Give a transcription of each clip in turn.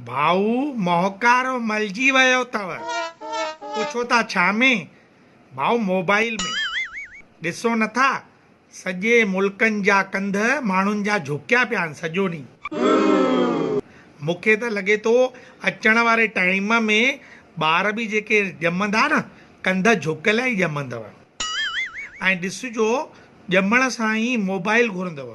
ڀائو مهڪارو ملجي ويو تؤ پڇو ٿا ڇا ۾ ڀائو موبائيل ۾ ڏسو نٿا سڄي ملڪن جا ڪنڌ ماڻهن جا جهڪيا پيا آهن سڄو ڏينهن مون کي ته لڳي ٿو اچڻ واري ٽائيم ۾ ٻار به جيڪي ڄمندا نه ڪنڌ جهڪيل ئي ڄمندؤ ۽ ڏسجو ڄمڻ سان ئي موبائيل گهرندؤ.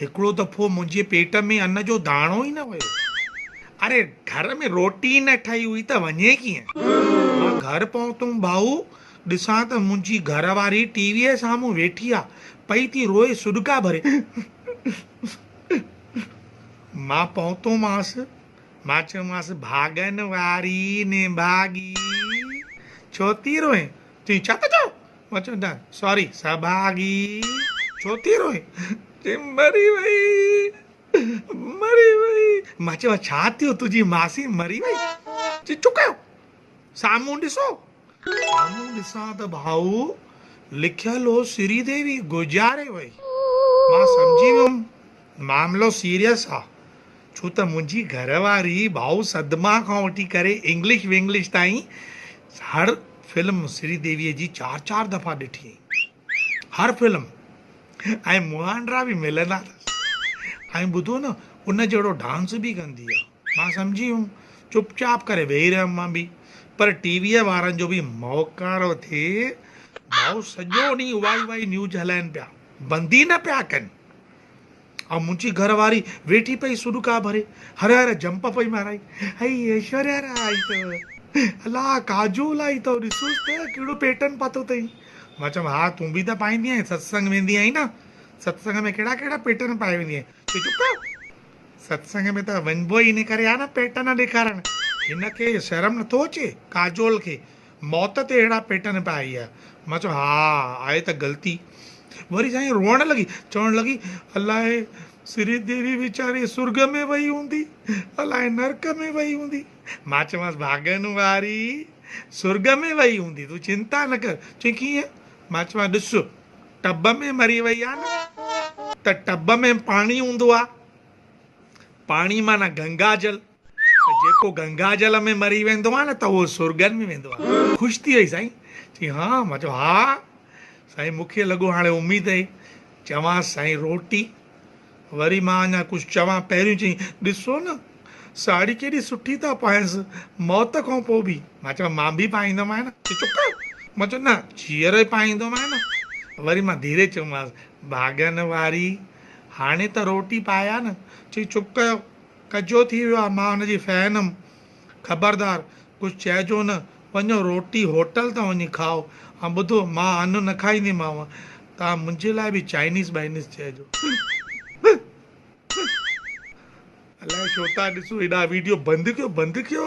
هڪڙو دفعو منهنجي پيٽ ۾ ان جو داڻو ئي نه ويو. اڙي گهر ۾ روٽي ئي نه ٺهي هئي ته وڃي ڪيئن؟ مان گهر پهتم ڀائو ڏسان ته منهنجي گهر واري ٽي ويء سامهون ويٺي آ پئي ٿي روئي سڏڪا ڀري. مان پهتومانس مان چيومانس ڀاڳن واري نڀاڳي ڇو ٿي روئين تون ڇا ٿو چوين؟ هو چوندو آهي ساري سڀاڳي ڇو ٿي روئين؟ چيم مري وئي مري وئي. مان چيم ها ڇا ٿيو تنهنجي ماسي مري وئي؟ چي چپ ڪيو سامهون ڏسو. سامهون ڏسان ته ڀائو لکيل هو سري ديوي گذاري وئي. مان سمجهي ويم. معاملو سيريس آ ڇو ته منهنجي گهر واري ڀائو صدمه کان وٺي ڪري انگلش ونگلش تائين هر فلم سري ديوي جي چار چار دفعا ڏٺي هئي هر فلم ۽ مهانڊرا به ملندا اٿس ۽ ٻڌو نه ان جهڙو ڊانس به ڪندي آ مان سمجهي ويم چپ چاپ ڪري ويهي رهيم مان به پر ٽي وي وارن جو به موڪارو ٿئي ڀائو سڄو ڏينهن اهائي اهائي نيوز هلائين پيا بند ئي نه پيا ڪن. ها منهنجي گهر واري ويٺي پئي سڏڪا ڀري هر هر جمپ پئي مارائي هئي ايشوريا را آئي اٿئو الا ڪاجول آئي اٿئو ڏسوس ته ڪهڙو پيٽرن پاتو اٿئي مان چيم ها تون به ته پائيندي آهين ستسنگ ويندي آهين نه ستسنگ ۾ ڪهڙا ڪهڙا پيٽرن پائي ويندي آهين چي چپ ڪر ستسنگ ۾ ته وڃبو ئي ان ڪري آهي نه پيٽرن ڏيکارڻ هن کي شرم نٿو اچي ڪاجول کي موت تي اهڙا پيٽن پيا هيء. مان چيو، ها، آهي ته غلطي. وري سائين روئڻ لڳي، چوڻ لڳي، الاء سري ديوي ويچاري سرڳ ۾ وئي هوندي، الاء نرڪ ۾ وئي هوندي. مان چيومانس، ڀاڳن واري سرڳ ۾ وئي هوندي، تون چنتا نه ڪر. چوين، ڪيئن؟ مان چيومانس، ڏس، ٽب ۾ مري وئي آهي نه، ته ٽب ۾ پاڻي هوندو آهي، پاڻي معنيٰ گنگا جل. ته جيڪو گنگا جل ۾ مري ويندو آهي نه ته اهو سرڳن ۾ ويندو آهي. خوش ٿي وئي سائين. چيائين ها؟ مان چيو ها سائين مون کي لڳو هاڻي اميد اهي چوانس سائين روٽي وري مان اڃا ڪجهه چوان پهريون چيائين ڏسو نه ساڙهي ڪيڏي سٺي ٿا پائينس موت کان پوء به. مان چيو مان به پائيندومانء نه. چيو چپ ڪر. مان چيو نه جيئرو ئي پائيندومانء نه. وري مان ڌيري چيومانس ڀاڳن واري هاڻي ته روٽي پايا نه. چيائين چپ ڪيو. ڪچو ٿي ويو آهي. مان هن جي فين هيم. خبردار! ڪجهه چئجو نه. وڃو روٽي هوٽل تان وڃي کائو. ۽ ٻڌو، مان انو نه کائينديمانو. توهان منهنجي لاء به چائنيز بائنيز چئجو. الائي ڇو ٿا ڏسو هيڏا وڊيو بند ڪيو بند ڪيو.